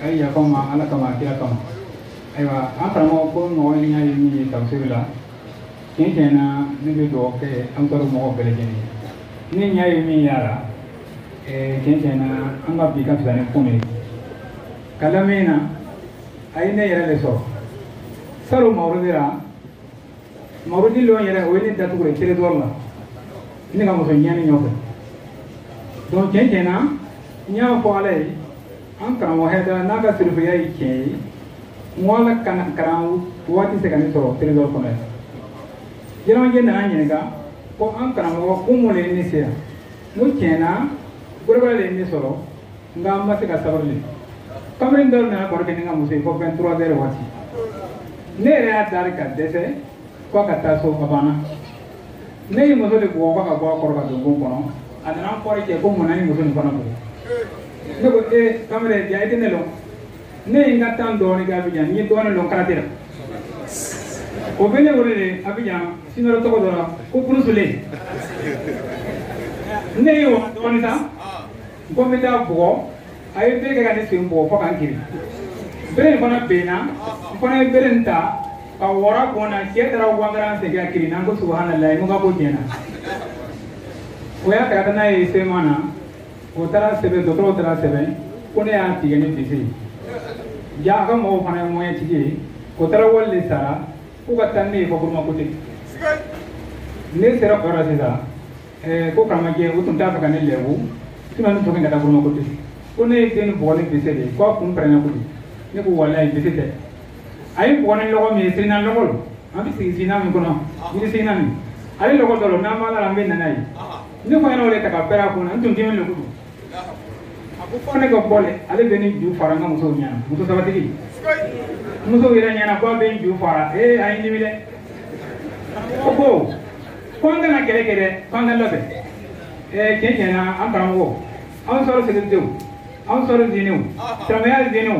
a ye yafa n ma ala kama a kira kama ayiwa an karamɔgɔ ko mɔgɔ ɲɛ ye min ye tafsiri la tiɲɛ tiɲɛ na ne bɛ dugawu kɛ ansari mɔgɔw bɛɛ lajɛlen ye ne ɲɛ ye min y'a la eh, tiɲɛ tiɲɛ na an ka bi ka fisa ni kunun ye ka lamɛn na a ye ne yɛrɛ de sɔrɔ salon mawuludi la mawuludi lɔn yɛrɛ o ye ne datugu de teredɔri la ne ka muso ɲɛni nɔfɛ donc tiɲɛ tiɲɛ na n y'a fɔ ala ye an karamɔgɔ hɛdara n'a ka sirifiya ye tiɲɛ ye n ko ala kana kalan waati se ka ne sɔrɔ teredɔri kɔnɔ yan yɛlɛmajɛ nana n ɲininka ko an karamɔgɔ ko mun de ye ne se yan n ko tiɲɛ na gorobala de ye ne sɔrɔ nka an ma se ka sabali kamalen dɔw nana baro kɛ ni n ka muso ye fo 23 heures waati ne yɛrɛ y'a deli ka dɛsɛ ko ka taa so ka banna ne ye muso de bugɔ ko ka bɔ a kɔrɔ ka don bon kɔnɔ a nana an kɔrɔ cɛ ko mun na n ye muso nin fana bugɔ ne ko ee eh, kamalen ja i tɛ ne lɔn ne ye n ka temps dɔɔnin kɛ abijan n ye dɔɔnin lɔn karate la o bɛ ne wele de abijan sinuwa tɔgɔ dɔ la ko bruce lee ne ye o dɔɔnin ta ko n bɛ t'a bugɔ a ye bere kɛ ka ne sen bugɔ fo ka n kiri bere in fana benna n fana ye bere in ta ka wɔra kun na cɛ taara wangaran segin ka kirin n ko subahanallahi n ko n ka ko tiɲɛna o y'a ta ka taa n'a ye sema na o taara sɛbɛn dɔgɔtɔrɔw taara sɛbɛn ko ne y'a tigɛ ni bese ye ja a ka mɔgɔw fana ye mɔyɛn tigi ye o taara wari de sara ko ka taa ne ye fakuruma kote ne sera kɔrɔ sisan ko karamɔgɔjɛ u tun t'a fɛ ka ne lebu sinon ne tɔgɔ in ka da bolo ko tɛ ko ne ye den nin bugɔ ni bese de ye ko a kun pɛrɛnna koyi ne ko walayi bese tɛ n y'a bugɔ ni lɔgɔ min ye sirina lɔgɔ don an bɛ sigi sirina min kɔnɔ yiri sirina min ale lɔgɔ dɔ don n'an b'a la an bɛ nana ye ne ko n y'o de ta k'a pɛrɛn a kun na n tun dimin de ko don a ko fo ne ka bɔ dɛ ale bɛ n ju fara n ka musow ɲɛna muso sabatigi musow yɛrɛ ɲɛna ko a bɛ n ju fara ee a ye n dimi dɛ o ko ko an kana kɛlɛ kɛ dɛ ko an ka labɛn ee tiɲɛ tiɲɛ na an karamɔgɔ ansari segindenw ansari zinenw silamɛya zinenw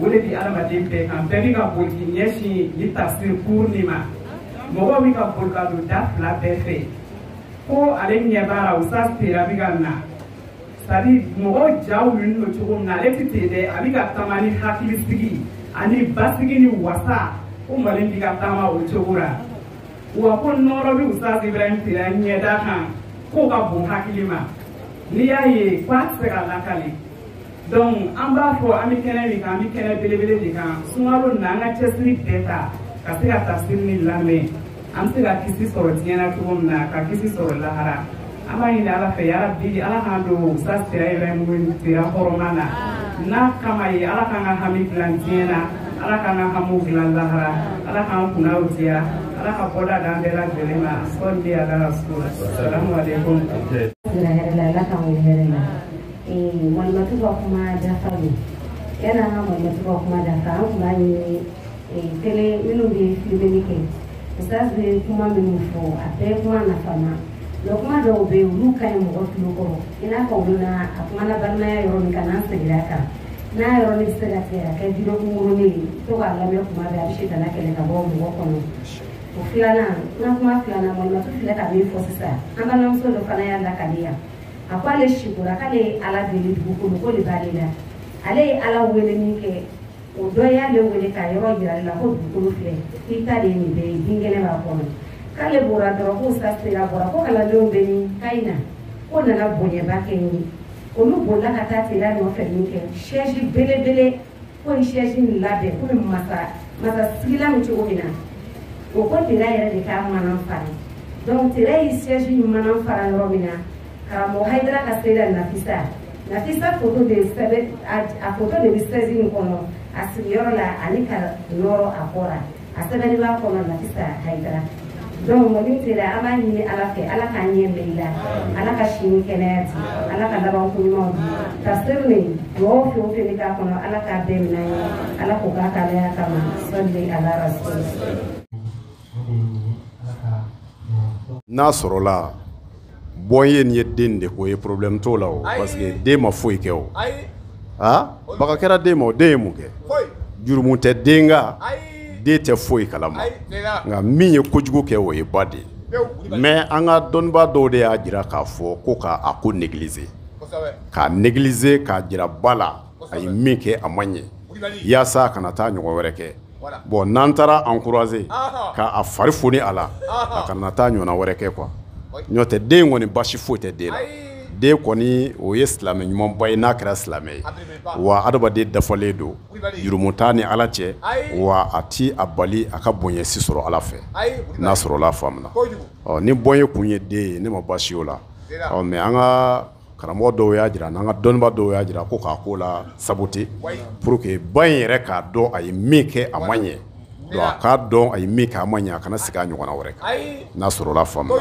o de bi adamaden bɛɛ kan bɛɛ bɛ ka boli k'i ɲɛsin ni tafsiri cours nin ma mɔgɔw bɛ ka boli ka don da fila bɛɛ fɛ ko ale ɲɛ b'a la usutazi tera bɛ ka na c'est-à-dire mɔgɔw jawulilen don cogo min na ale tɛ ten dɛ a bɛ ka taama ni hakilisigi ani basigi ni wasa ko mali bɛ ka taama o cogo la wa ko nɔɔrɔ bɛ usutazi ibrahim tera ɲɛda kan k'o ka bon hakili ma n'i y'a ye k'a tɛ se ka lakali donc an b'a fɔ an bɛ kɛnɛ min kan an bɛ kɛnɛ belebele de kan sunkalo nin na an ka cɛsiri bɛɛ ta ka se ka tafsiri nin lamɛn an bɛ se ka kisi sɔrɔ diɲɛ na cogo min na ka kisi sɔrɔ lahara an b'a ɲini ala fɛ yarabi ala k'an don sa sira ibrahim sira hɔrɔma na n'a kama ye ala k'an ka hami dilan diɲɛ na ala k'an ka hamiw dilan lahara ala k'an kunna diya ala ka bɔda d'an bɛɛ lajɛlen ma sɔli ala rasul salamu aleykum Eh, malimatu ka kuma dafa don yanni an ka malimatu ka kuma dafa an tun b'a ɲini eh, tele minnu bɛ filimeli kɛ ustaz bɛ kuma minnu fɔ a bɛɛ kuma nafama mais kuma dɔw bɛ yen olu ka ɲi mɔgɔ tulo kɔrɔ i n'a fɔ olu na a kuma na balimaya yɔrɔ min kan n'an seginna a kan n'a yɔrɔ ne bɛ se ka tigɛ ka kɛ video kunkurunin ye to k'a lamɛn kuma bɛɛ a bɛ sitana kɛlɛ ka bɔ mɔgɔ kɔnɔ o filanan n ka kuma filanan malimatu filɛ ka min fɔ sisan an balimamuso dɔ fana y'a lakali yan a ko ale sikora k'ale ye ala deli dugukolo ko de b'ale la ale ye ala wele min kɛ o dɔ y'ale wele ka yɔrɔ jira ale la ko dugukolo filɛ k'i ta de ye nin bɛɛ ye binkɛnɛ b'a kɔnɔ k'ale bɔra dɔrɔn ko ustaz tera bɔra ko kalandenw bɛ ni kayi na ko nana bonyaba kɛ n ye olu bolila ka taa tera nɔfɛ min kɛ sɛsi belebele k'u ye sɛsi nin labɛn komi masa masa sigilan min cogo min na o ko tera yɛrɛ de k'a manan fara donc tera ye sɛsi nin manan fara yɔrɔ min na karamɔgɔ hayidara ka seyida nafisa nafisa foto de sɛbɛn a foto de bɛ sɛsi nin kɔnɔ a sigiyɔrɔ la ani ka nɔrɔ a kɔ la a sɛbɛnnen b'a kɔnɔ nafisa hayidara donc malimu tera an b'a ɲini ala fɛ ala k'an ɲɛ mɛɛn i la ala ka si ni kɛnɛya di ala ka labanko ɲumanw di tafsiri nin mɔgɔw fɛn o fɛn bɛ k'a kɔnɔ ala k'a bɛɛ minɛ ye ala k'o k'a k'alaya kama sɔli ala rasul n'a sɔrɔla bɔn ye nin ye den de ko ye problème t'o la o parce que den ma foyi kɛ o a baga kɛra den ma o den ye mun kɛ jurumu tɛ den kan den tɛ foyi kalama nka min ye kojugu kɛ o ye ba de ye mais an ka dɔnnibaa dɔw de y'a jira k'a fɔ ko k'a ko négliger k'a négliger k'a jira ba la a ye min kɛ a ma ɲɛ walasa a kana taa ɲɔgɔn wɛrɛ kɛ bɔn n'an taara an kurae k'a fari f a la a kana taa ɲɔgɔn wɛrɛ kɛ kuwa n'o tɛ den kɔni basi foyi tɛ den na den kɔni o ye silamɛ ɲumanba ye n'a kɛra silamɛ ye wa adamaden dafalen don jurumu t'a ni ala cɛ wa a tɛ a bali a ka bonya si sɔrɔ ala fɛ n'a sɔrɔ faamuya ni bɔ ye kun ye den ye ne ma basi o la mais an ka karamɔgɔ dɔw y'a jira n'an ka dɔnniba dɔw y'a jira ko k'a ko la sabote pour que ba in yɛrɛ k'a dɔn a ye min kɛ a ma ɲɛ donc a k'a dɔn a ye min kɛ a ma ɲɛ a kana segin a ɲɔgɔnna wɛrɛ kan n'a sɔrɔla faamu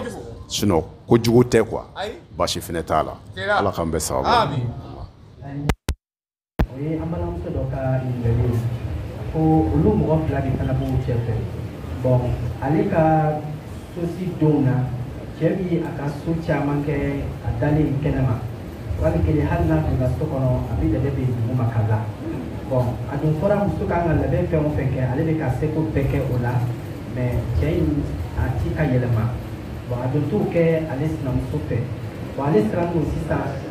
sinon ko jugu tɛ quoi basi fɛnɛ t'a la ala k'an bɛɛ sababu o ye an balimamuso dɔ ka ɲininkali ye ko olu mɔgɔ fila de fana b'u cɛ fɛ bon ale ka sosi donw na cɛ bi a ka su caman kɛ a dalen kɛnɛma ale kelen hali n'a donna so kɔnɔ a bɛ lɛbɛ bɛ dugu ma ka la bon a dun fɔra muso kan ka labɛn fɛn o fɛn kɛ ale bɛ k'a seko bɛɛ kɛ o la mais cɛ in a ti ka yɛlɛma bon a dun t'o kɛ ale sinamuso fɛ bon ale sirannen don sisan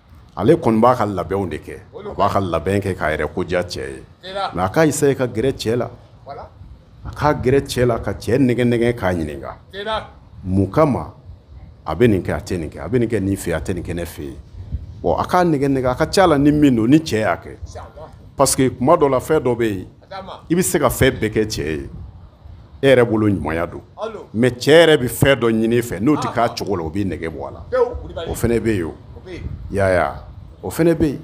ale kɔni b'a ka labɛnw de kɛ a b'a ka labɛn kɛ k'a yɛrɛ ko diya cɛ ye mais a ka essayer ka gɛrɛ cɛ la a ka gɛrɛ cɛ la ka cɛ nɛgɛn nɛgɛn k'a ɲininka mun kama a bɛ nin kɛ a tɛ nin kɛ a bɛ nin kɛ nin fɛ a tɛ nin kɛ ne fɛ yen a k'a nɛgɛn nɛgɛn a ka ca la ni min don ni cɛ y'a kɛ parce que kuma dɔ la fɛn dɔ bɛ yen i bɛ se ka fɛn bɛɛ kɛ cɛ ye e yɛrɛ bolo ɲumanya don mais cɛ yɛrɛ bɛ fɛn dɔ ɲini i fɛ n'o tɛ kɛ a cogo la o b'i nɛgɛ bɔ a la o fana bɛ yen o yaya o fana bɛ yen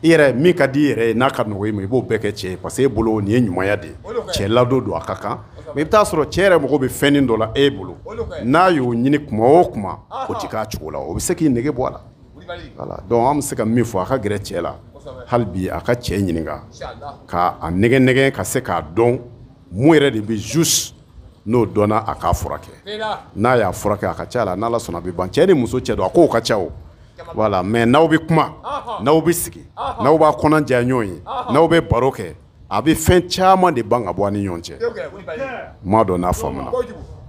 i yɛrɛ min ka di i yɛrɛ ye n'a ka nɔgɔ i ma i b'o bɛɛ kɛ cɛ ye parce que e bolo nin ye ɲumanya de ye cɛ ladon don a ka kan mais i bɛ t'a sɔrɔ cɛ yɛrɛ mago bɛ fɛnin dɔ la e bolo n'a y'o ɲini kuma o kuma o tɛ kɛ a cogo la o bɛ se k'i nɛgɛ bɔ a la Voilà donc an bɛ se ka min fɔ a ka gɛrɛ cɛ la hali bi a ka cɛ ɲininka ka a nɛgɛn nɛgɛn ka se k'a dɔn mun yɛrɛ de bɛ juste n'o dɔnna a k'a furakɛ n'a y'a furakɛ a ka ca la n'ala sɔnna a bɛ ban cɛ ni muso cɛ don a kow ka ca o voilà mais n'aw bɛ kuma n'aw bɛ sigi n'aw b'a kɔnɔ jɛya ɲɔgɔn ye n'aw bɛ baro kɛ a bɛ fɛn caman de ban ka bɔ ni ɲɔgɔn cɛ ma dɔn n'a faamuya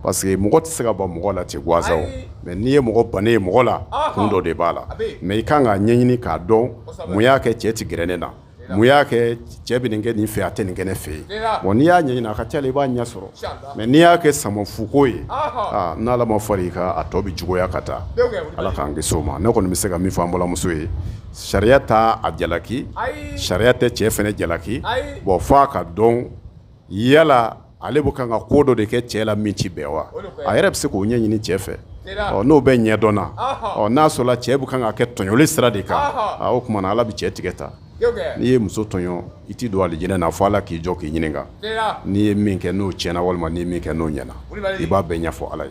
parce que mɔgɔ tɛ se ka ban mɔgɔ la ten gansan mais n'i ye mɔgɔ ban ye mɔgɔ la kun dɔ de b'a la mais i kan k'a ɲɛɲini k'a dɔn mun y'a kɛ cɛ tɛ gɛrɛ ne na mun y'a kɛ cɛ bɛ kɛ nin fɛ a tɛ nin kɛ ne fɛ yen wa n'i y'a ɲɛɲini a ka ca i b'a ɲɛ sɔrɔ mais n'i y'a kɛ sama fuko ye n'ala ma fara i kan a tɔ bɛ juguya ka taa ala k'an kisi o ma ne kɔni bɛ se ka min fɔ an balimamuso ye sariya tɛ a jalaki sariya tɛ cɛ fana jalaki bon fɔ a k'a dɔn yala ale bɛ kan ka ko dɔ de kɛ cɛ la min tɛ bɛn wa a yɛrɛ bɛ se k'o ɲɛ ɲini cɛ fɛ ɔ n'o bɛɛ ɲɛ dɔnna ɔ n'a sɔrɔla cɛ bɛ kan k'a kɛ tɔɲɔli sira de kan o tuma na ala bɛ cɛ tigɛ ta n'i ye muso tɔɲɔ i tɛ don alijinɛ na fɔ ala k'i jɔ k'i ɲininka n'i ye min kɛ n'o tiɲɛna walima n'i ye min kɛ n'o ɲɛna i b'a bɛɛ ɲɛfɔ ala ye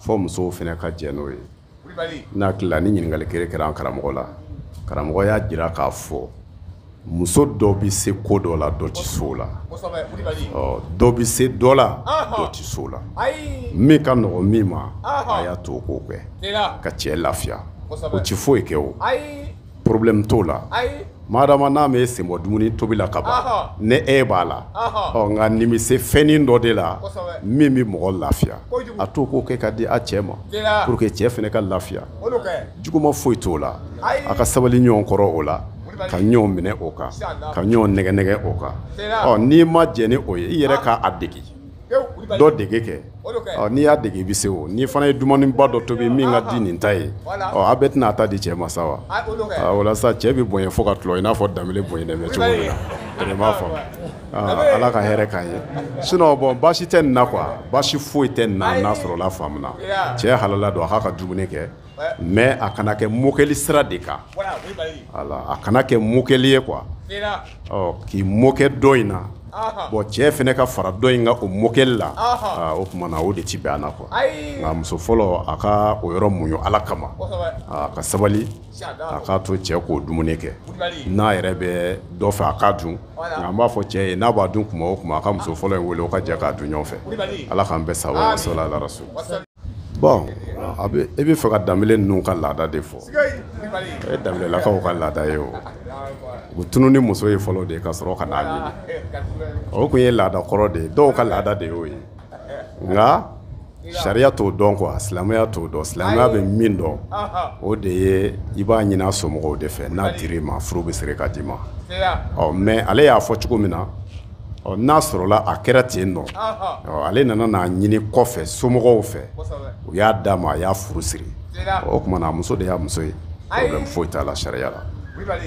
fɔ musow fana ka jɛn n'o ye n'a tilala nin ɲininkali kelen kɛra an karamɔgɔ la karamɔgɔ y'a jira k'a fɔ muso dɔ bɛ se ko dɔ la dɔ tɛ s'o la dɔ bɛ se dɔ la dɔ tɛ s'o la min ka nɔgɔ min ma a y'a to o k'o kɛ ka cɛ lafiya o tɛ foyi kɛ o problème t'o la madama n'a m'i sen bɔ dumuni tobi la ka ban ni e b'a la ɔ nka n'i bɛ se fɛnnin dɔ dila min bɛ mɔgɔ lafiya a to k'o kɛ ka di a cɛ ma pour que cɛ fana ka lafiya juguma foyi t'o la a ka sabali ɲɔgɔn kɔrɔ o la ka ɲɔgɔn minɛ o kan ka ɲɔgɔn nɛgɛ nɛgɛ o kan ɔ n'i ma jɛn ni o ye i yɛrɛ k'a degi dɔ dege kɛ n'i y'a dege i bɛ se o n'i fana ye dumuniba dɔ tobi min ka di nin ta ye a bɛɛ tɛna a ta di cɛ ma sa wa walasa cɛ bɛ bonya fo ka tulɔ i n'a fɔ danbele bonyalen bɛ cogo min na i b'a faamu ala ka hɛrɛ k'a ye sinon bɔn baasi tɛ nin na quoi baasi foyi tɛ nin na n'a sɔrɔla faamuna cɛ halala don a k'a ka dumuni kɛ mais a kana kɛ mokɛli sira de kan a kana kɛ mokɛli ye quoi k'i mokɛ dɔ in na bɔn cɛ fana ka fara dɔ in kan o mokɛli la o tuma na o de tɛ bɛn an na quoi nka muso fɔlɔ a ka o yɔrɔ muɲu ala kama a ka sabali a k'a to cɛ k'o dumuni kɛ n'a yɛrɛ bɛ dɔ fɛ a k'a dun nka an b'a fɔ cɛ ye n'a b'a dun tuma o tuma a ka muso fɔlɔ in wele o ka jɛ k'a dun ɲɔgɔn fɛ ala k'an bɛɛ sabati wa salala rasul bɔn a bɛ e b'a fɛ ka danbele ninnu ka laada de fɔ o ye danbelelakaw ka laada ye o bɛ tunun ni muso ye fɔlɔ de ka sɔrɔ ka n'a ɲini o tun ye laada kɔrɔ de ye dɔw ka laada de y'o ye nka sariya t'o dɔn quoi silamɛya t'o dɔn silamɛya bɛ min dɔn o de ye i b'a ɲini a somɔgɔw de fɛ n'a dir'i ma furu bɛ siri ka d'i ma ɔ mais ale y'a fɔ cogo min na ɔ n'a sɔrɔla a kɛra ten nɔ ale nana n'a ɲini kɔfɛ somɔgɔw fɛ u y'a d'a ma a y'a furu siri o tuma na a muso de y'a muso ye problème foyi t'a la sariya la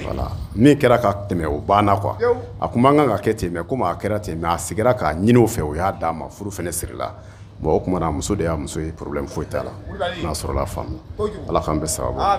wala min kɛra ka tɛmɛ o banna quoi a tun man kan ka kɛ ten mais comme a kɛra ten mais a sigira k'a ɲini o fɛ o y'a d'a ma furu fana sirila bon o tuma na a muso de y'a muso ye problème foyi t'a la n'a sɔrɔla faamu ala k'an bɛɛ saba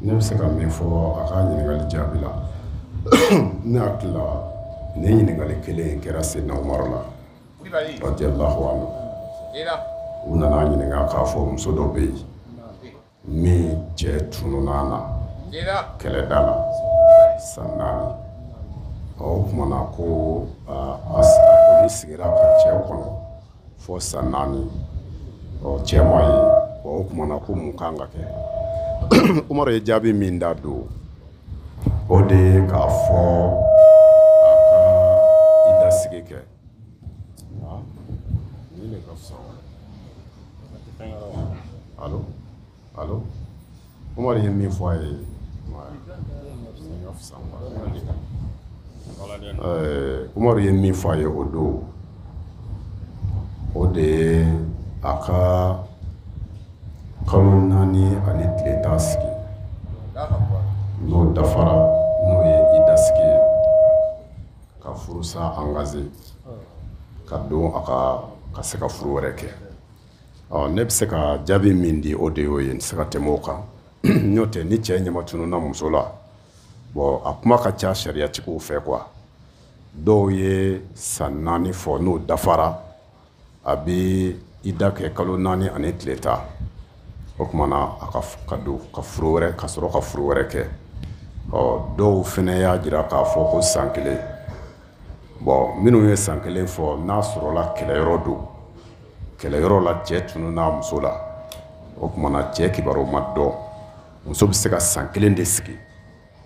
ne bɛ se ka min fɔ a ka ɲininkali jaabi la ne hakili la nin ɲininkali kelen in kɛra seyidina umaru la radiyallahu anhu u nana a ɲininka k'a fɔ muso dɔ bɛ yen min cɛ tununa a la kɛlɛda la san naani o kumana ko a sigira ka cɛ kɔnɔ fo san naani ɔ cɛ ma ye ɔ o tuma na ko mun kan ka kɛ umaru ye jaabi min da don o de ye k'a fɔ a ka ida sigi kɛ nin de ka fisa alo Allô Umaru ye min fɔ a ye Umaru ye min fɔ a ye o don o de ye a ka kalo naani ani tile tan sigi n'o dafara n'o ye ida sigi ye ka furusa angaze ka don a ka ka se ka furu wɛrɛ kɛ ɔ ne bɛ se ka jaabi min di o de y'o ye n tɛ se ka tɛmɛ o kan n'o tɛ ni cɛ ɲɛma tununna muso la bɔn a kuma ka ca sariyatigiw fɛ quoi dɔw ye san naani fɔ n'o dafara a bɛ ida kɛ kalo naani ani tile tan o tuma na a ka ka don ka furu wɛrɛ ka sɔrɔ ka furu wɛrɛ kɛ ɔ dɔw fana y'a jira k'a fɔ ko san kelen bɔn minnu ye san kelen fɔ n'a sɔrɔla kɛlɛyɔrɔ don kɛlɛyɔrɔ la cɛ tununna muso la o tumana cɛ kibaruw ma dɔn muso bɛ se ka san kelen de sigi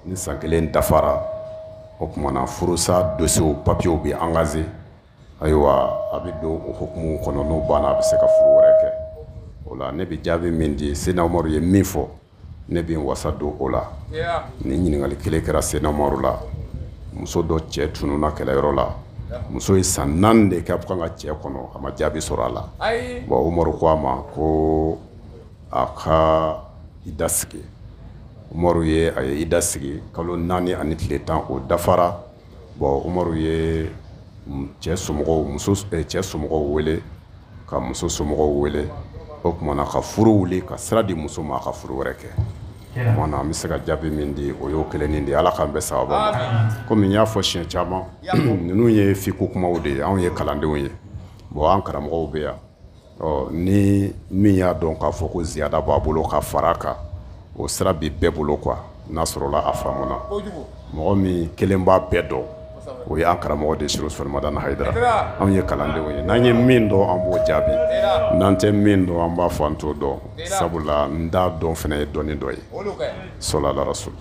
ni san kelen dafara o tumana furusa dosiyew papiyew bɛ angaze ayiwa a bɛ don o hukumu kɔnɔ n'o banna a bɛ se ka furu wɛrɛ kɛ o la ne bɛ jaabi min di sena umaru ye min fɔ ne bɛ wasa don o la nin ɲininkali kelen kɛra sena umaru la muso dɔ cɛ tununna kɛlɛyɔrɔ la muso ye san naani de kɛ a bɛ k'a ka cɛ kɔnɔ a ma jaabi sɔrɔ a la bon umaru ko a ma ko a ka ida sigi umaru ye a ye ida sigi kalo naani ani tile tan o dafara bɔn umaru ye cɛ somɔgɔw muso eh, cɛ somɔgɔw wele ka muso somɔgɔw wele o kumana ka furu wuli ka sira di muso ma a ka furu wɛrɛ kɛ kumana n bɛ se ka jaabi min di o y'o kelennin de ala k'an bɛn sawaba ma komi n y'a fɔ siɲɛ caman ninnu ye fikihu kumaw de ye anw ye kalandenw ye bɔn an karamɔgɔw bɛ yan ɔ ni min y'a dɔn k'a fɔ ko ziyada b'a bolo ka fara kan o sira bi bɛɛ bolo quoi n'a sɔrɔla a faamu na mɔgɔ min kelen b'a bɛɛ dɔn o y'an karamɔgɔ de serifu usumani madani hayidara anw ye kalandenw ye n'an ye min dɔn an b'o jaabi n'an tɛ min dɔn an b'a fɔ an t'o dɔn sabula n t'a dɔn fana ye dɔnni dɔ ye sɔlu ala rasul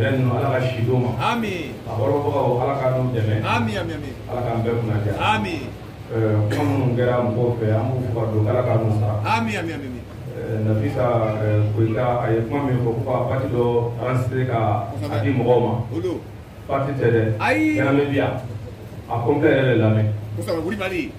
ala ka si ma a ala ka dɛmɛ ala k'an bɛɛ kun minnu kɛra mɔgɔw fɛ an don ala ka nafin kota a ye kuma min fɔ ko ka pati dɔ an sera ka a di mɔgɔw ma pati tɛ dɛ ayi bi a ko n bɛɛ yɛrɛ de lamɛn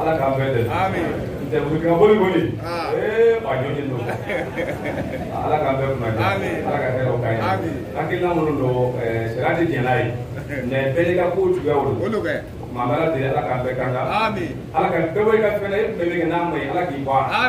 ala k'an bɛɛ dɛmɛ ntɛ burukina boli boli ee ba jɔnni don ala k'an bɛɛ kunna jɛ ala ka hɛrɛw k'an ye hakilina minnu don sariya tɛ jɛn n'a ye mɛ bɛɛ n'i ka kow cogoyaw don maa bɛ ala deli ala k'an bɛɛ tanga ala ka bɛɛ bɔ i ka fɛn na e tun bɛ min kɛ n'a ma ɲi ala k'i bɔ a la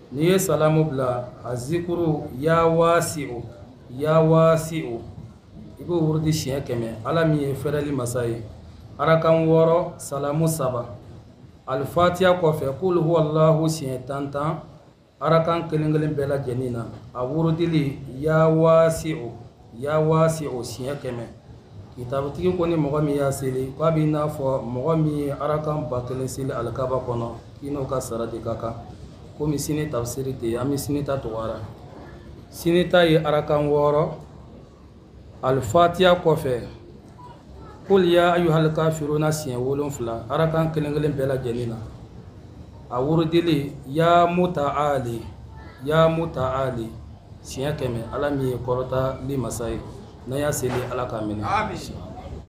n'i ye salamu bila a zikuru ya waasi o ya waasi o i b'o wurudi siɲɛ kɛmɛ ala min ye fɛrɛli masa ye arakan wɔɔrɔ salamu saba alifatiya kɔfɛ kul huwallahu siɲɛ tan tan arakan kelen kelen bɛɛ lajɛlen na a wurudili ya waasi o ya waasi o siɲɛ kɛmɛ kitabutigi ko ni mɔgɔ min y'a seli k'a b'i n'a fɔ mɔgɔ min ye arakan ba kelen seli alikaba kɔnɔ k'i n'o ka sara de ka kan komi sini tafsiri tɛ yen an bɛ sini ta tugu a ra sini ta ye arakan wɔɔrɔ alifatiya kɔfɛ kul ya ayuhal kafiruna siɲɛ wolonfila arakan kelen kelen bɛɛ lajɛlen na a wurudili ya mutaali ya mutaali siɲɛ kɛmɛ ala min ye kɔrɔtali masa ye n'an y'a seli ala k'a minɛ